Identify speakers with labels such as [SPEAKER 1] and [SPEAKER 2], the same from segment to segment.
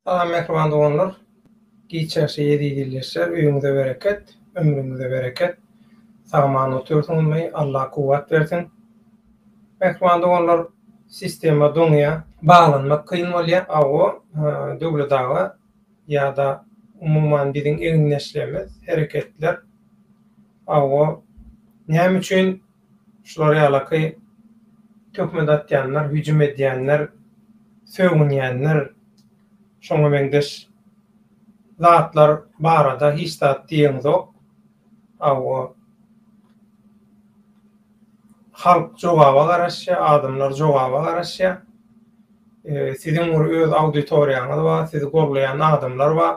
[SPEAKER 1] Salam mähriban doganlar. Giç ýaşy ýedi ýyllyşlar, öýüňize bereket, ömrüňize bereket. Sagaman otursunmy, Alla kuwwat bersin. Mähriban doganlar, sistema doňýa, baglanmak kyn bolýa, awo, döwlet aga. ýa-da umuman biziň egindeşligimiz, hereketler aw-o, näme üçin şular ýalaky töhmet atýanlar, hüjüm edýänler, sögünýänler, şoňa meňzeş zatlar barada hiç zat diýeňizok, aw-o. Halk jogaba garaşýar, adamlar jogaba garaşýar. Siziň bir öz auditoriýaňyz bar, sizi golleýän adamlar bar.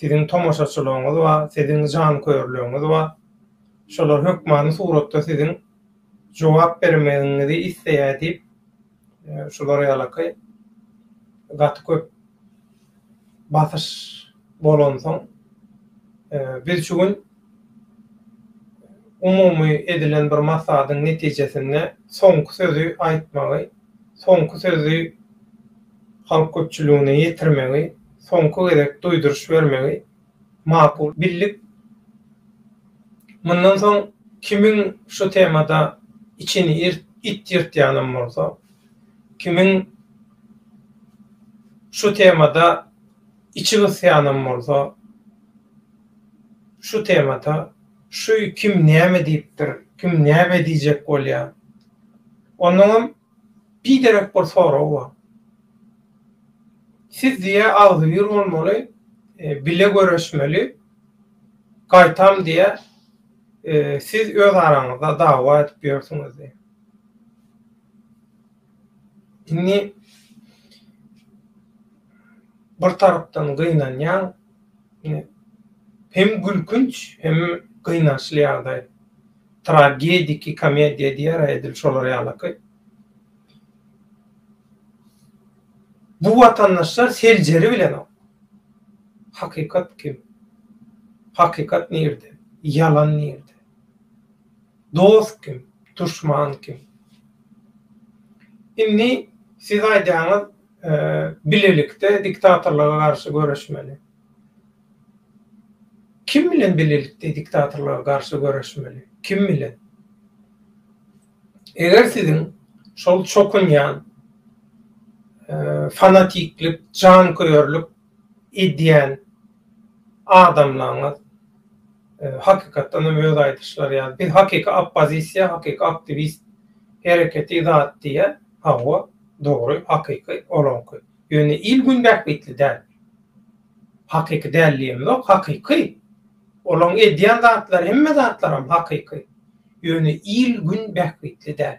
[SPEAKER 1] Siziň tomaşaçylygyňyz bar, siziň janköýerligiňiz bar. Şolar hökmany suratda siziň jogap bermegiňizi isleýär diýip, Şular ýalaky gaty köp basyş bolansoň, biz şu gün umumy edilen bir maslahatyň netijesinde soňky sözi aýtmagy, soňky sözi halk köpçüligine ýetirmegi, soňky gezek duýduryş bermegi Makul, bildik. Mundan soň kimiň şu temada içini it ýyrtýanam bolsa, kimiň şu temada içi gysýanam bolsa, şu temata şuý kim näme diýipdir, kim näme diýjek bolýar, onnoňam. Biderek bir sorag bar. Siz diýe agzybir bolmaly, bile göreşmeli, gaýtam diýe siz öz araňyzda dawa edip ýörsüňiz diýe. Indi bir tarapdan gynanýaň, hem gülkünç, hem gynançly ýagdaý. Tragediki komediýa diýer-ä edil şolar ýalaky. Bu watandaşlar seljeri bilenok. Hakykat kim? Hakykat nirde? Ýalan nirde? Dost kim? Duşman kim? Indi siz aýdýaňyz bilelikde diktatorlara garşy göreşmeli. Kim bilen bilelikde diktatorlara garşy göreşmeli? Kim bilen? Eger siziň şol çokunýan, fanatiklik, janköýerlik edýän adamlaryňyz, hakykatdan hem öz aýdyşlary ýaly, biz hakyky oppozisiýa, hakyky aktiwist hereketi zat diýýär, hawa, dogry, hakyky olaňky. Ýöne il-gün bähbitli däl. Hakyky däl diýen ýok, hakyky. Olaň edýän zatlary hemme zatlaram hakyky. Ýöne il gün bähbitli däl.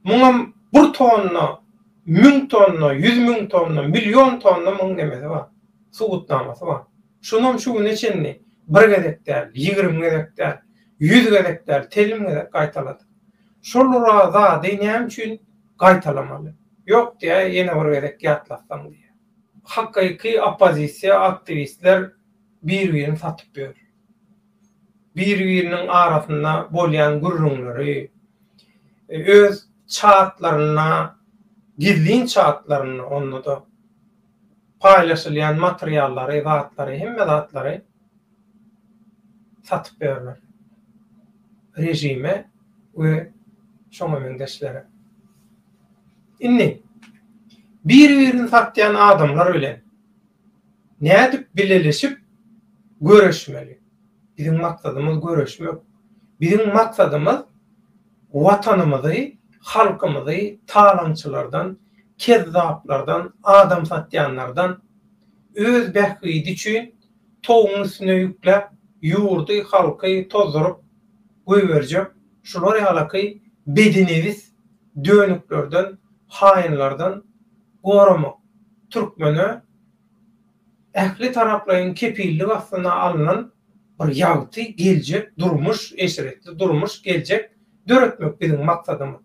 [SPEAKER 1] Muňam bir tonna, müň tonna, ýüz müň tonna, million tonna muň nemesi bar, subutnamasy bar. Şunam şu güne çenli bir gezek däl, ýigrimi gezek däl, ýüz gezek däl, telim gezek gaýtaladyk. Şol ura zady näme üçin gaýtalamaly? Ýok diýä, ýene bir gezek ýatlatsaň diýýä. Hakyky oppozisiýa aktiwistler bir-birini satyp ýör. Bir-biriniň arasynda bolýan gürrüňleri, öz çatlarynda, gizlin çatlarynda onda-da paýlaşylýan materiallary, zatlary, hemme zatlary satyp berler režime we şoňa meňzeşlere. Indi bir-birini satýan adamlar bilen nädip bileleşip göreşmeli? Biziň maksadymyz göreşmek. Biziň maksadymyz Watanymyzy, halkymyzy talaňçylardan, kezzaplardan, adam satýanlardan, öz bähbidi üçin Towugyň üstüne ýükläp, ýurdy, halky tozduryp goýberjek, şular ýalaky bedinebis dönüklerden, haýynlardan goramak türkmene ähli taraplaýyn kepillik astyna alnan bir ýagty geljek durmuş, eşretli durmuş, geljek döretmek biziň maksadymyz.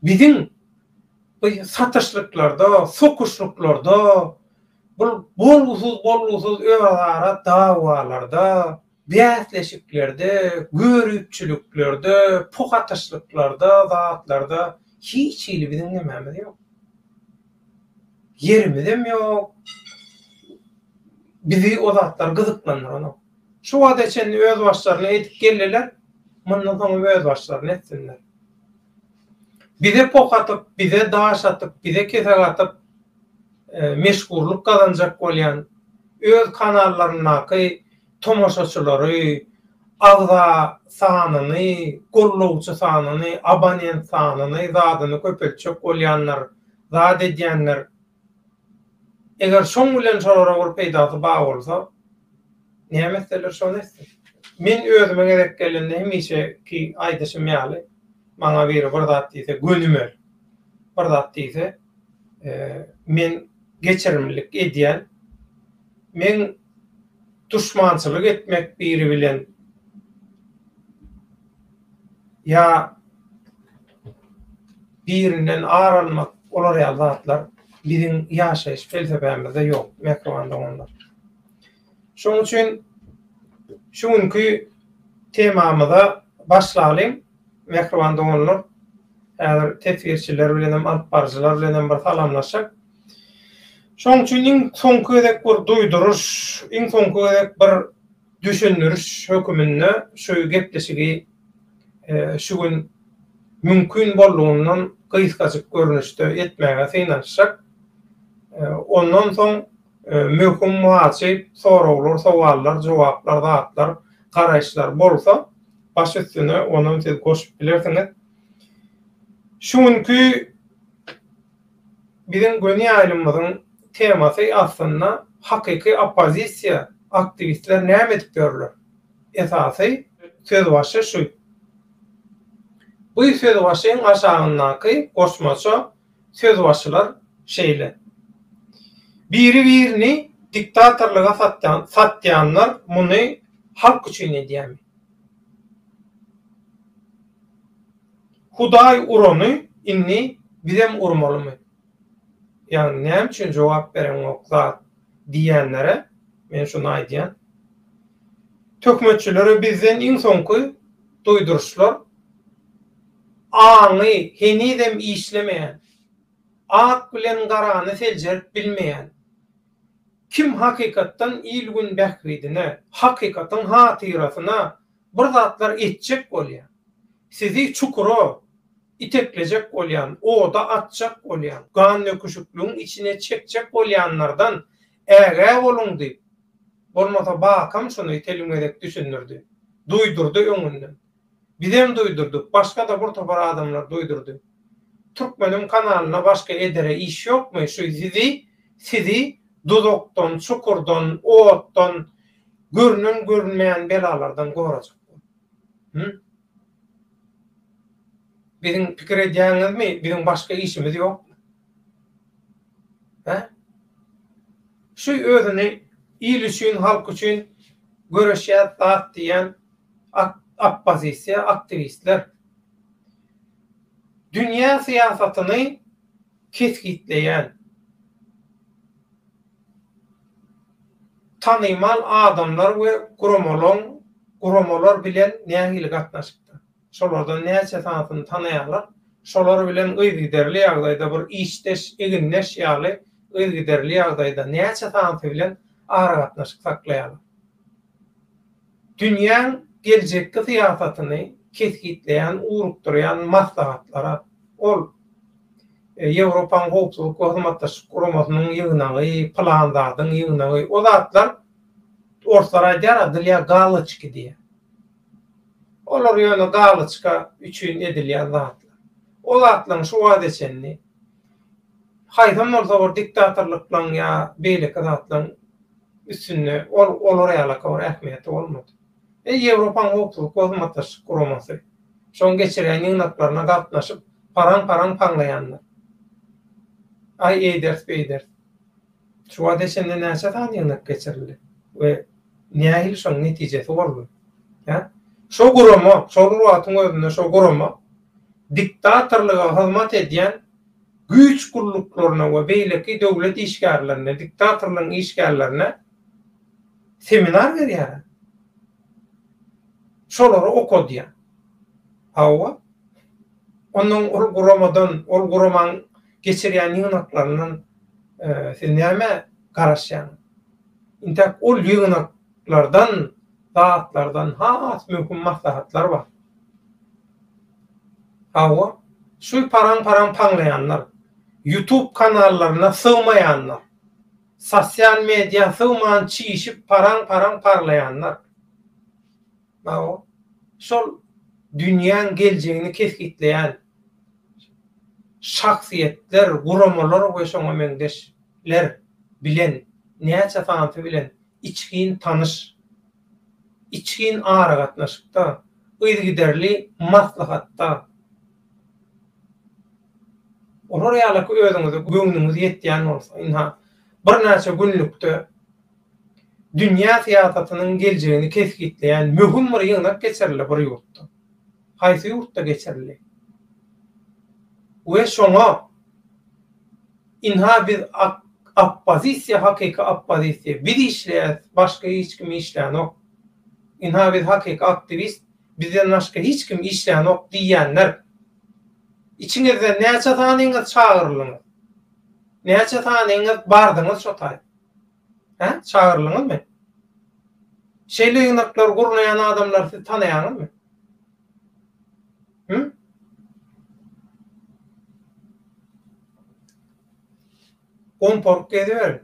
[SPEAKER 1] Biziň bu satyşlyklarda, sokuşlyklarda, Bu bolgusyz-bolgusyz özara dawalarda, bäsleşiklerde, görüpçiliklerde, puhatyşlyklarda, zatlarda hiç hili biziň nämämiz ýok. Ýerimizem ýok. Bizi o zatlar gyzyklandyranok. Şu wagta çenli özbaşlaryna edip geldiler, mundan soňam özbaşlaryna etsinler. Bize pok atyp, bize daş atyp, bize kesek atyp meşhurlyk gazanjak bolýan öz kanallaryndaky tomaşaçylary, agza sanyny, gollawçy sanyny, abonent sanyny, zadyny köpeltjek bolýanlar, zat edýänler. Eger şoň bilen şolara bir peýdasy bar bolsa, näme etseler şony etsin. Men özüme gezek gelende hemişeki aýdyşym ýaly, maňa biri bir zat diýse gönümel, bir zat diýse, men geçirimlilik edýän. Men duşmançylyk etmek biri bilen ýa birinden ar almak olar ýaly zatlar biziň ýaşaýyş pelsepämizde ýok mähriban doganlar. Şonuň üçin şu günki temamyza başlalyň mähriban doganlar. Häzir teswirçiler bilenem alyp baryjylar bilenem bir salamlaşyk. Şonuň üçin iň soňky gezek bir duýduryş, iň soňky gezek bir düşündiriş höküminde şu gepleşigi şu gün mümkin boldugyndan gysgajyk görnüşde etmäge synanyşjak. Ondan soň möhüm, wajyp soraglar, sowallar, jogaplar, zatlar, garaýyşlar bolsa, baş üstüne onam siz goşup bilersiňiz. Şu günki. Biziň göni ýaýlymymyzyň temasy aslynda hakyky oppozisiýa, aktiwistler näme edip ýörler? Esasy söz başy şu. Bu söz başyň aşagyndaky goşmaça söz başylar şeýle, Biri birini diktatorlyga satýanlar muny halk üçin edýärmi? Hudaý urany indi bizem urmalymy? Ýagny näme üçin jogap bereňok zat diýýänlere men şuny aýdýan. Töhmetçilere bizden iň soňky duýduryşlar aňy henizem işlemeýän, ak bilen garany seljerip bilmeýän, kim hakykatdan il-gün bähbidine, hakykatyň hatyrasyna Bir zatlar etjek bolýan, sizi çukura iteklejek bolýan, oda atjak bolýan, gandöküşikligiň içine çekjek bolýanlardan ägä boluň diýip, bolmasa Bakam şuny telim gezek düşündirdi, duýdurdy öňünden. Bizem duýdurdyk, başga-da bir topar adamlar duýdurdy. Türkmeniň kanalyna başga edere iş ýokmy, şu sizi, sizi duzakdan, çukurdan, otdan, Görünen görünmeýän belalardan gorajak bol. Hü? Biziň pikir edýäňizmi, biziň başga işimiz ýok? Hä? Şu özüni il üçin, halk üçin göreşýär zat diýen oppozisiýa aktiwistler dünýä syýasatyny kesgitleýän tanymal adamlar we guramalaň guramalar bilen nähili gatnaşykda? Şolardan näçe sanysyny tanaýarlar? Şolar bilen yzygiderli ýagdaýda bir işdeş, egindeş ýaly yzygiderli ýagdaýda näçe sanysy bilen aragatnaşyk saklaýarlar? Dünýäň geljekki syýasatyny kesgitleýän ugrukdyrýan maslahatlara, ol, Ýewropaň Howpsuzlyk we Hyzmatdaşlyk Guramasynyň ýygnagy, pylan zadyň ýygnagy, o zatlar, orslar aýdýar, a dlya galoçki diýýär. Olar ýöne galoçka üçin edilýän zatlar. O zatlaryň şu wagta çenli haýsam bolsa bir diktatorlyklaň ýa beýleki zatlaň üstünde ol olar ýalaka bir ähmiýeti bolmady. E, Ýewropaň Howpsuzlyk we Hyzmatdaşlyk Guramasy, şoň geçirýän ýygnaklaryna gatnaşyp, paraň-paraň paňlaýanlar. Aý, eýderis, beýderis. Şu wagta çenli näçe sany ýygnak geçirildi we nähili şoň netijesi boldy? Hä? Şo gurama, şol wagtyň özünde şo gurama diktatorlyga hyzmat edýän güýç gulluklaryna we beýleki döwlet işgärlerine, diktatorlygyň işgärlerine seminar berýär. Şolary okadýar. Hawa. Ondan ol guramadan, ol guramanyň geçirýän ýygnaklaryndan siz nämä garaşýaňyz? Intäk ol ýygnaklardan, zatlardan has möhüm maslahatlar bar. Hawa, şu paraň-paraň paňlaýanlar, ýutub kanallaryna sygmaýanlar, sosial mediýa sygman çişip paraň-paraň parlaýanlar, hawa, şol dünýäň geljegini kesgitleýän şahsyýetler, guramalar we şoňa meňzeş ler bilen näçe sanysy bilen içgin tanyş, içgin aragatnaşykda, yzygiderli maslahatda, olar ýalyky özüňize göwnüňiz ýetýän bolsa, ynha, birnäçe günlükde dünýä syýasatynyň geljegini kesgitleýän möhüm bir ýygnak geçirildi bir ýurtda. Haýsy ýurtda geçirildi? We şoňa. Ynha biz ak oppozisiýa hakyky oppozisiýa biz işleýäs başga hiç kim işlänok ynha biz hakyky aktiwist bizden başga hiç kim işlänok diýýänler içiňizden näçe sanyňyz çagyryldyňyz näçe sanyňyz bardyňyz şo taý. Hä? Çagyryldyňyzmy? Şeýle ýygnaklary gurnaýan adamlary siz tanaýaňyzmy? Hü? Gomporup geziber.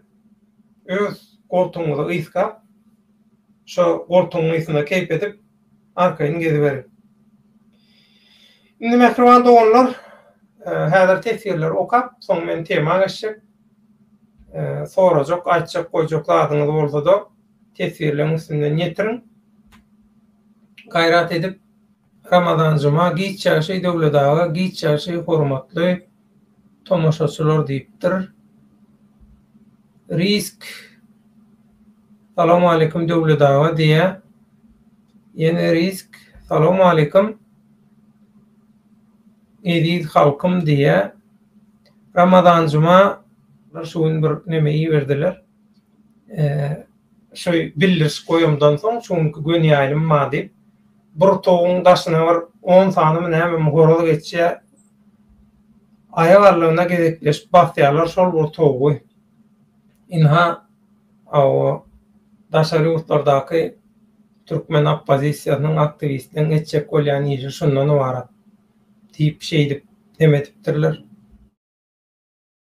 [SPEAKER 1] Öz goltugyňyzy ysgap, şo goltugyň ysynda keýp edip, arkaýyn geziberiň. Indi mähriban doganlar, häzir teswirleri okap, soň men tema geçjek. Sorajak, aýtjak, goýjak zadyňyz bolsa-da, teswirleriň üstünden ýetiriň. Gaýrat edip, Ramazan juma, giç ýagşy Döwlet aga, giç ýagşy hormatly. Tomaşaçylar diýipdir. Risk Salawmaleýkim Döwlet aga diýýär. Ýene Risk Salawmaleýkim eziz halkym diýýär. Ramazan Juma şu gün bir neme iberdiler. Şu bildirişik goýamdan soň şu günki göni ýaýlym bar diýip, bir toguň daşyna bir on sanymy nämemi horaz geçýär. Aýak arlygyna gezekleşip basýarlar şol bir towugy. Ynha, awa, daşary ýurtlardaky türkmen oppozisiýasynyň aktiwistiniň etjek bolýan işi şundan ybarat diýip, şeýdip, dem edipdirler.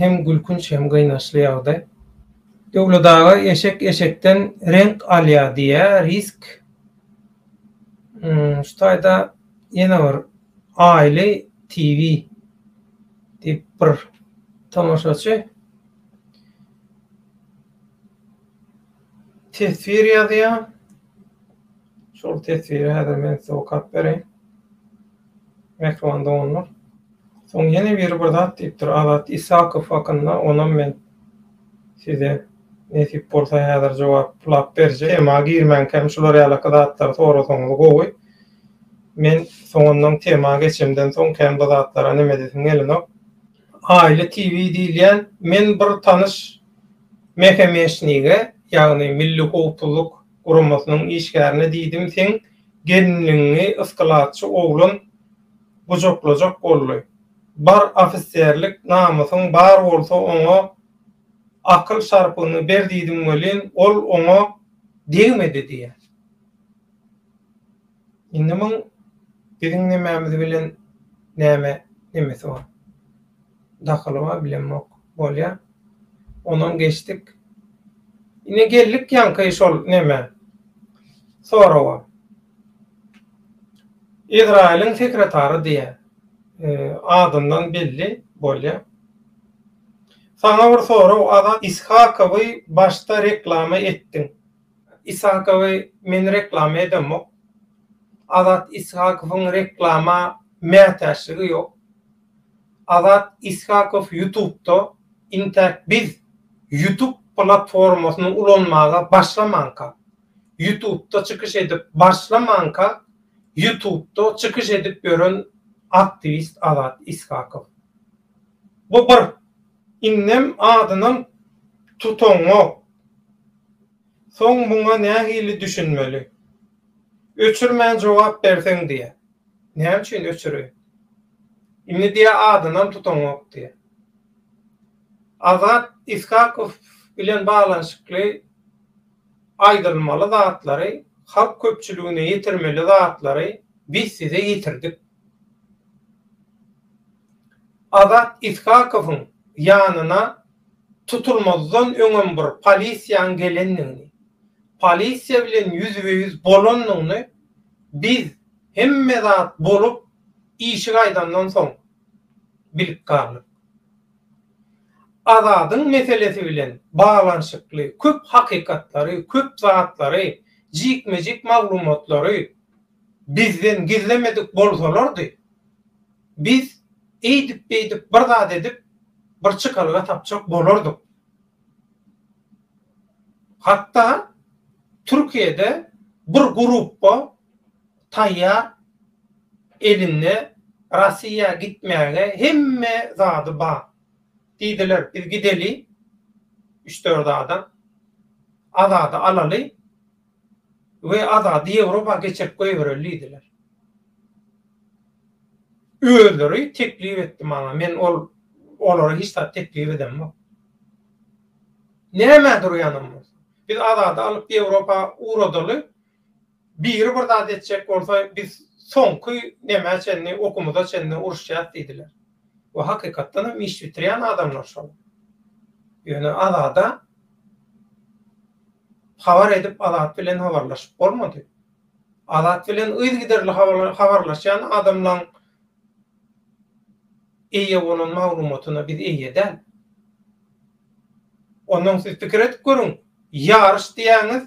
[SPEAKER 1] hem gülkünç hem gynaçly ýagdaý. Döwlet aga eşek eşekden renk alýar diýýär, risk. Hmm, şu taýda ýene bir Aile TV diýip bir tomaşaçy teswir ýazýar. Şol teswiri häzir men size okap bereýin. Mähriban doganlar. Soň ýene biri bir zat diýipdir. Azat Isakow hakynda onam men size nesip bolsa häzir jogaplap berjek. Tema girmänkäm şular ýalaka zatlary sorasaňyz gowy. Men soňundan tema geçemden soň kän bu zatlara neme edesim gelenok. Aile TV diýilýän men bir tanyş mehemeshnige ýagny milli howpsuzlyk guramasynyň işgärine diýdim seň gelinligiňi yskalatçy oglan gujaklajak boldy bar ofiserlik namysyň bar bolsa oňa akyl şarpyny ber diýdim welin ol oňa degmedi diýýär. Indi muň biziň nemämiz bilen näme nemesi bar? Dahyly bar bilemok. Bolýa. Onam geçdik. Ine geldik ýaňky şol neme. Sorawa. Izrailiň sekretary diýe. Adyndan belli bolýa. Saňa bir sorag Azat Ishakowy başda reklama etdiň. Ishakowy men reklama edemok. Azat Ishakowyň reklama mätäçligi ýok. Azat Ishakow ýutubda intäk biz ýutub platformasyny ulanmaga başlamanka, ýutubda çykyş edip başlamanka ýutubda çykyş edip ýören aktiwist Azat Ishakow. Bu bir. Indem adynam tutaňok. Soň muňa nähili düşünmeli? Öçürmän jogap berseň diýýä. Näme üçin öçüreýin? Indi diýýä adynam tutaňok diýýä. Azat Ishakow bilen baglanyşykly aýdylmaly zatlary, halk köpçüligine ýetirmeli zatlary biz size ýetirdik. Azat Ishakowyň ýanyna tutulmazdan öňem bir polisiýaň gelendigini, polisiýa bilen ýüzbe-ýüz bolandygyny biz hemme zat bolup işik aýdandan soň bilip galdyk. Azadyň meselesi bilen baglanyşykly köp hakykatlary, köp zatlary, jikme-jik maglumatlary bizden gizlemedik bolsalardy, biz eýdip-beýdip bir zat edip, bir çykalga tapjak bolardyk. Hatda Türkiýede bir grupba taýýar elinde Rossiýa gitmäge hemme zady bar. Diýdiler, biz gideli, üç-dört adam, Azady alaly, we Azady Ýewropa geçirip goýbereli diýdiler. Özleri teklip etdi maňa, men ol olara hiç zat teklip edemok. Nämä durýanam bolsa. Biz Azady alyp Ýewropa ugradaly, biri bir zat etjek bolsa, biz soňky nämä çenli, okumyza çenli uruşýas diýdiler. we hakykatdan hem iş bitirýän adamlar şol. Ýöne Azada habar edip Azat bilen habarlaşyp bolmady. Azat bilen yzygiderli habarlaşýan adamlaň eýe bolan maglumatyna biz eýe däl. Ondan siz pikir edip görüň, ýaryş diýýäňiz,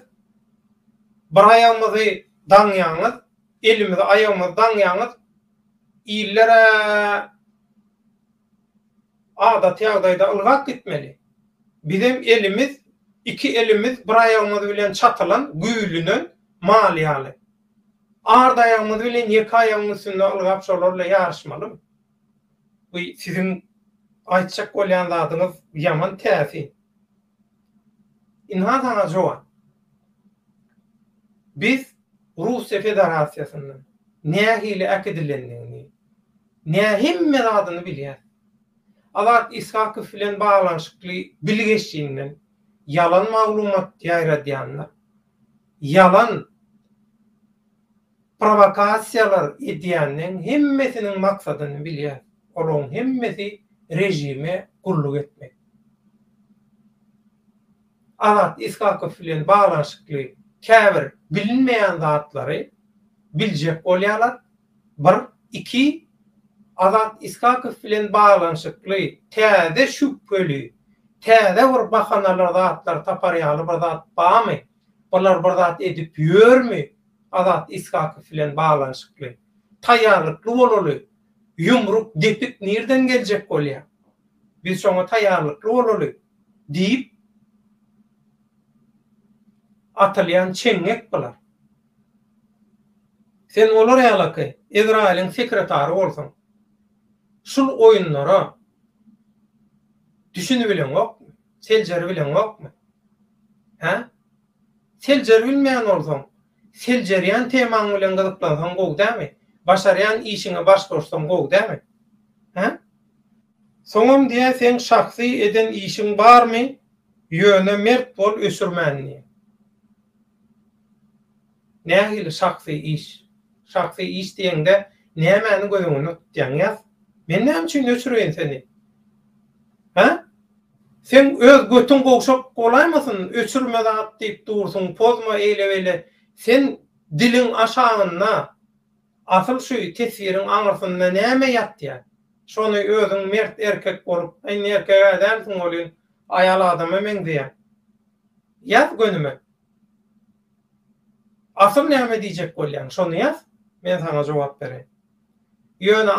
[SPEAKER 1] bir aýagymyzy daňýaňyz, elimizi aýagymyzy daňýaňyz, Illere adaty ýagdaýda ylgap gitmeli. Bizem elimiz, iki elimiz bir aýagymyz bilen çatylan, güýlünen mal ýaly. Ard aýagymyz bilen ýeke aýagyň üstünde ylgap şolarla ýaryşmalymy? Bu siziň aýtjak bolýan zadyňyz ýaman täsin. Ynha saňa jogap. Biz Russiýa Federasiýasyndan nähili äkidilendigini, nä hemme zadyny bilýäris. Azat Ishakow bilen baglanyşykly bilgeşinden ýalan maglumat ýaýradýanlar, ýalan Prowokasiýalar edýänleň hemmesiniň maksadyny bilýäs, olaň hemmesi režime gulluk etmek. Azat Ishakow bilen baglanyşykly käbir bilinmeýän zatlary biljek bolýarlar, bir, iki, Azat Ishakow bilen baglanyşykly täze şübheli, täze bir bahanalar zatlary tapar ýaly bir zat bamy, Bular bir zat edip ýörmi Azat Iskakow bilen baglanyşykly? Taýýarlykly bolaly. Ýumruk, depik nirden geljek bolýa? Biz şoňa taýýarlykly bolaly, diýip, atylýan çeňňek bular. Sen olar ýalaky Ezraýylyň sekretary bolsaň, şul oýunlara düşünibileňokmy? Seljeri bileňokmy? Hä? Seljeri bilmeýän bolsaň, seljerýän temaň bilen gyzyklansaň gowy dälmi? Başarýan işiňe baş goşsaň gowy dälmi? Hä? Soňam diýýär seň şahsy eden işiň barmy, ýöne mert bol öçürmän diýýär. Nähili şahsy iş? Şahsy iş diýeňde nämäni göz öňünde tutýaň ýaz? Men näme üçin öçüreýin seni? Hä? Seň öz götüň gowşak bolaýmasyn, öçürme zat diýip dursuň, pozma eýle-beýle. Sen diliň aşagynda asyl şu teswiriň aňyrsynda näme ýatýar? Şony özüň mert erkek bolup, indi erkeg-ä dälsiň welin, aýal adama meňzeýäň. Ýaz gönüme. Asyl näme diýjek bolýaň, şony ýaz, men saňa jogap bereýin. Ýöne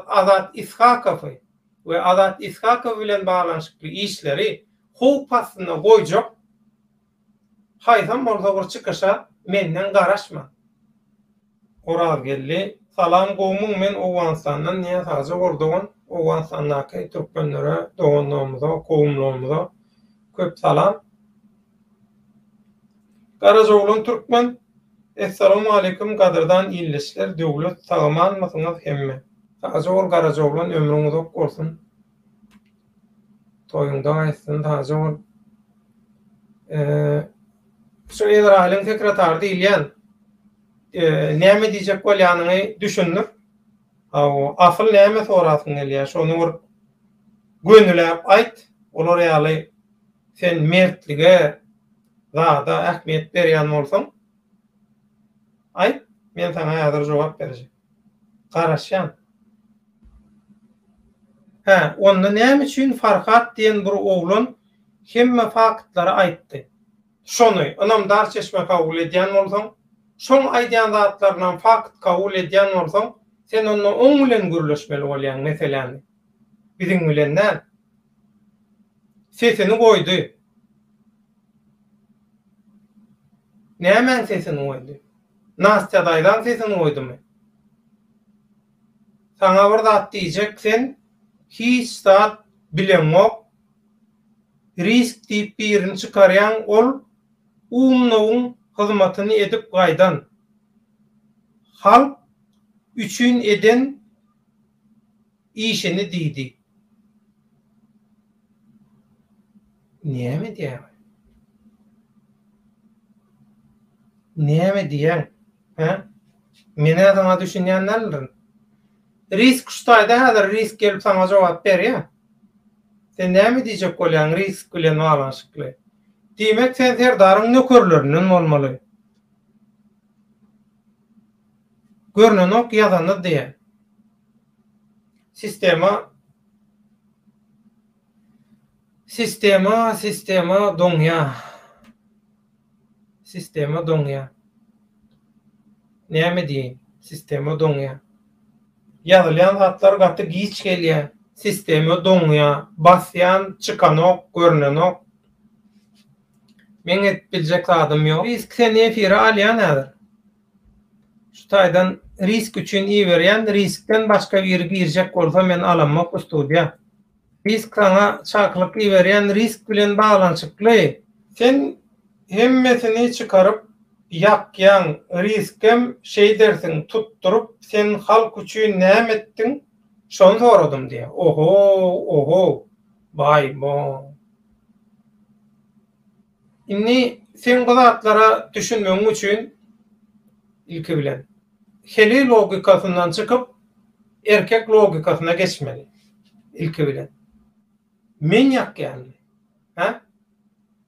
[SPEAKER 1] Azat Ishakowy we Azat Ishakow bilen baglanyşykly işleri howp astynda goýjak haýsam bolsa bir çykyşa menden garaşma. Orazgeldi, Salam gowmyň men Owganystandan Nyýaz Hajy Ordogan Owganystandaky türkmenlere doganlarymyza gowumlarymyza köp salam. Garajoglan Türkmen, Essalamualeýkum gadyrdan ildeşler Döwlet sagamanmysyňyz hemme. Sagja bol Garajoglan ömrüň uzak bolsun. Toýuňda gaýtsyn sagja bol. Şu Izrailiň sekretary diýilýän. Näme diýjek bolýanyňy düşündir. Hawa, asyl näme sorasyň gelýär, şony bir gönüläp aýt. Olar ýaly sen mertlige, zada ähmiýet berýän bolsaň, aýt, men saňa häzir jogap berjek. Garaşýan. Hä, onda näme üçin Farhat diýen bir oglan hemme faktlary aýtdy? Şony ynamdar çeşme kabul edýän bolsaň, şoň aýdýan zatlarynam fakt kabul edýän bolsaň, sen onda oň bilen gürleşmeli bolýaň meseläni. Biziň bilen däl. Sesini goýdy. Nämäň sesini goýdy? Nastýa daýzaň sesini goýdumy? Saňa bir zat diýjek sen hiç zat bileňok. Risk diýip birini çykarýaň ol umnowyň hyzmatyny edip gaýdan halk üçin eden işini diýdi. Näme edýäň? Näme diýýäň? Hä? Men-ä saňa düşünýän däldirin. Risk şu taýda häzir risk gelip saňa jogap berýär. Sen näme diýjek bolýaň Risk bilen baglanyşykly? Diýmek sen serdaryň nökerlerinden bolmaly. Görnenok ýazany diýen. Sistema Sistema sistema doňýa. Sistema doňýa. Näme diýeýin? Sistema doňýa. Ýazylýan zatlar gaty giç gelýä. Sistema doňýa. Basýan, çykanok, görnenok. Meň edip biljek zadym ýok. Risk seni efire alýan häzir. Şu taýdan risk üçin iberýän, riskden başga biri girjek bolsa men alamok u studiýa. Risk saňa çakylyk iberýän risk bilen baglanyşykly. Sen hemmesini çykaryp ýakýaň riskem şeýdersiň tutduryp sen halk üçin näme etdiň şony soradym diýýä ohow ohow baý boň. Indi seň bu zatlara düşünmegiň üçin ilki bilen, heleý logikasyndan çykyp, erkek logikasyna geçmeli. Ilki bilen. Men ýakýanmy? Hä?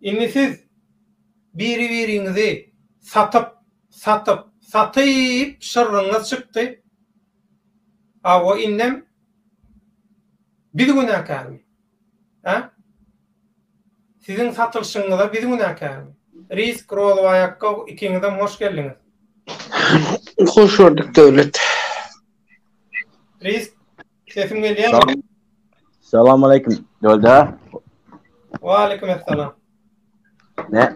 [SPEAKER 1] Indi siz biri-biriňizi satyp, satyp, satyp şyrryňyz çykdy. Hawa indem biz günäkärmi? Hä? Siziň satylyşyňyza biz günäkärmi? Risk, Rozow aýakgok, ikiňizem hoş geldiňiz.
[SPEAKER 2] Hoş gördük, Döwlet. Risk,
[SPEAKER 1] sesim gelýärmi? Salam
[SPEAKER 3] aleýkum, Döwletde. Wa
[SPEAKER 1] aleýkum essalam. Ne?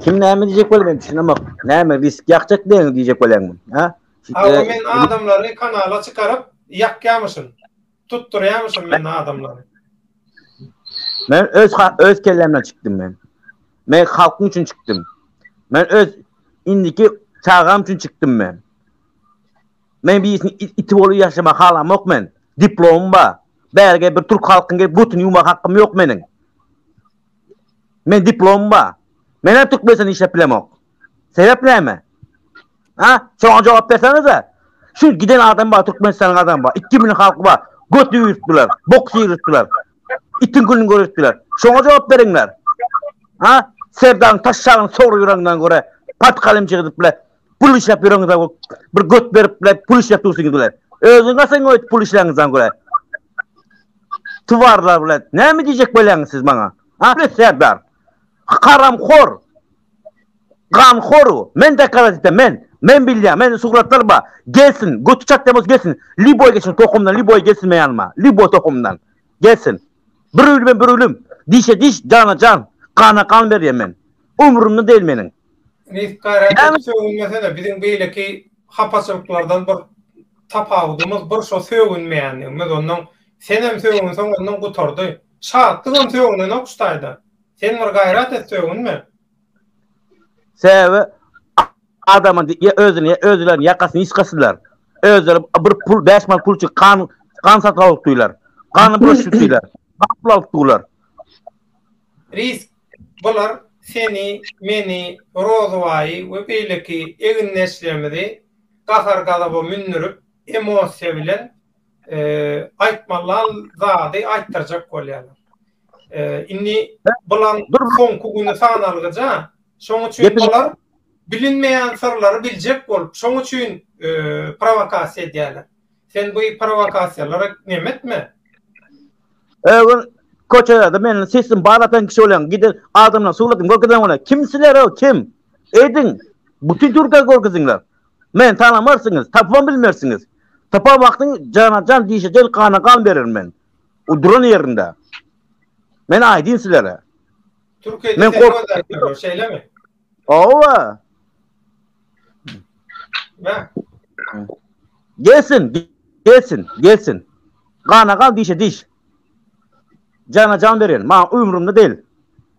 [SPEAKER 3] Kim näme diýjek bolup men düşünemok. Näme risk ýakjak diýen diýjek bolýaňmy? Ha? Aga men
[SPEAKER 1] adamlary kanala çykaryp ýakýamyşyn. Tutdurýarmyşyn
[SPEAKER 3] men adamlary. Men öz öz kellemden çykdym men. Men halkym üçin çykdym. Men öz indiki çagam üçin çykdym men. Men birisini iti bolup ýaşama halamok men. Diplomym bar. Bärge bir türk halkyň gelip götüni ýuwma hakym ýok meniň. Men diplomym bar. Men hem türkmenistan işläp bilemok. Sebep näme? Ha? Şoňa jogap bersenize. Şu giden adam bar, Türkmenistanyň adamy bar. 2 milyon halky bar. Göt ýüritdiler, bok ýüritdiler. Itiň gününi görüpdiler. Şoňa jogap beriňler. Ha? Serdaryň taşşagyny sogry ýüreňden görä, patkalyň çygydyp bile, pul işläp ýüreňde bir göt berip bile, pul işläp dursyňyz bile. Özüň gatyň öýt pul işläňizden görä. Tuwarlar bile. Näme diýjek bolýaňyz siz maňa? Ha? Serdar. Haram hor. Ganhorw, men dokazować etýän, men, men bilýän, men sugratlar bar, gelsin, göti çatýan bolsa gelsin, lýuboý geçen tohumdan lýuboý gelsin meň ýanyma, lýuboý tohumdan, gelsin. Bir ölümem bir ölüm, dişe diş, jana jan, gana gan berýän men. Ömrümde däl meniň. Nji gaýrat
[SPEAKER 1] edip sögünmesene, biziň beýleki hapaçylyklardan bir tapawudymyz, bir şo sögünmeýänligimiz, ondan senem sögünseň ondan gutardy. Şatlygam sögünenok şu taýdan. Sen bir gaýrat et sögünme.
[SPEAKER 3] Sebäbi adamyň ýa özüni ýa özülerini ýakasyny ýyskasylar. Özleri bir pul bäş man pul üçin gan gan satyp alyp otyrlar. Gany bulaşyp otyrlar. Gan pul alyp durlar.
[SPEAKER 1] Risk bular seni, meni, Rozybaýy we beýleki egindeşlerimizi gahar-gazaba mündürip, emosiýa bilen aýtmalan zady aýtdyrjak bolýarlar. Indi bulan soňky güni sanalgyja, şoň üçin bular bilinmeýän syrlary biljek bolup, şoň üçin prowokasiýa edýärler. Sen bu prowokasiýalara nem etme. Öwün
[SPEAKER 3] köçede meniň sesim bar atan kişi bolýan, gidin adamlaryň suratyn görkezen bolýan. Kim sizler-ow, kim? Ediň, bütin Türkiýä görkeziňler. Men tanamarsyňyz, tapybam bilmersiňiz. Tapar wagtyň jana jan, dişe dil, gana gan bererin men. O duran ýerinde. Men aýdyn sizlere. Türkiýede Men
[SPEAKER 1] seni kork- gözläpdirler, şeýlemi? Owa! Bä,
[SPEAKER 3] Gelsin, ge- gelsin, gelsin. Gana gan, dişe diş. Jana jan beren, maňa ömrümde dil.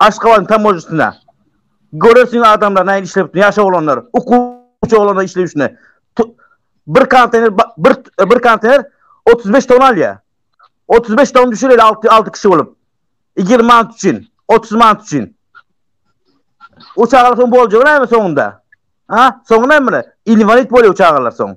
[SPEAKER 3] Aşgabadyň tamojasynda görersiň adamlar nähili işlebipdir, ýaş oglanlar, okuwçy oglanlar işlep ýürsünler. Bir konteýner bir bir konteýner 35 tonna alýar. 35 tonna düşür ele 6 6 kişi bolup. 20 manat üçin, 30 manat üçin. O çagalar soň boljak näme soňunda? Ha? Soňy näme? Invalid bolýar çagalar soň.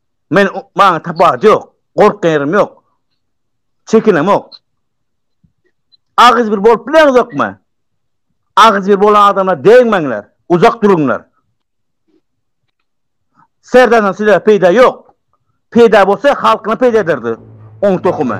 [SPEAKER 3] Men maňa tabat ýok. Gorkýan ýerim ýok. Çekinemok. Agyz bir bolup bileňizokmy? Agyz bir bolan adama degmeňler. Uzak duruňlar. Serdardan size peýda ýok. Peýda bolsa halkyna peýda ederdi. Oň tohumy.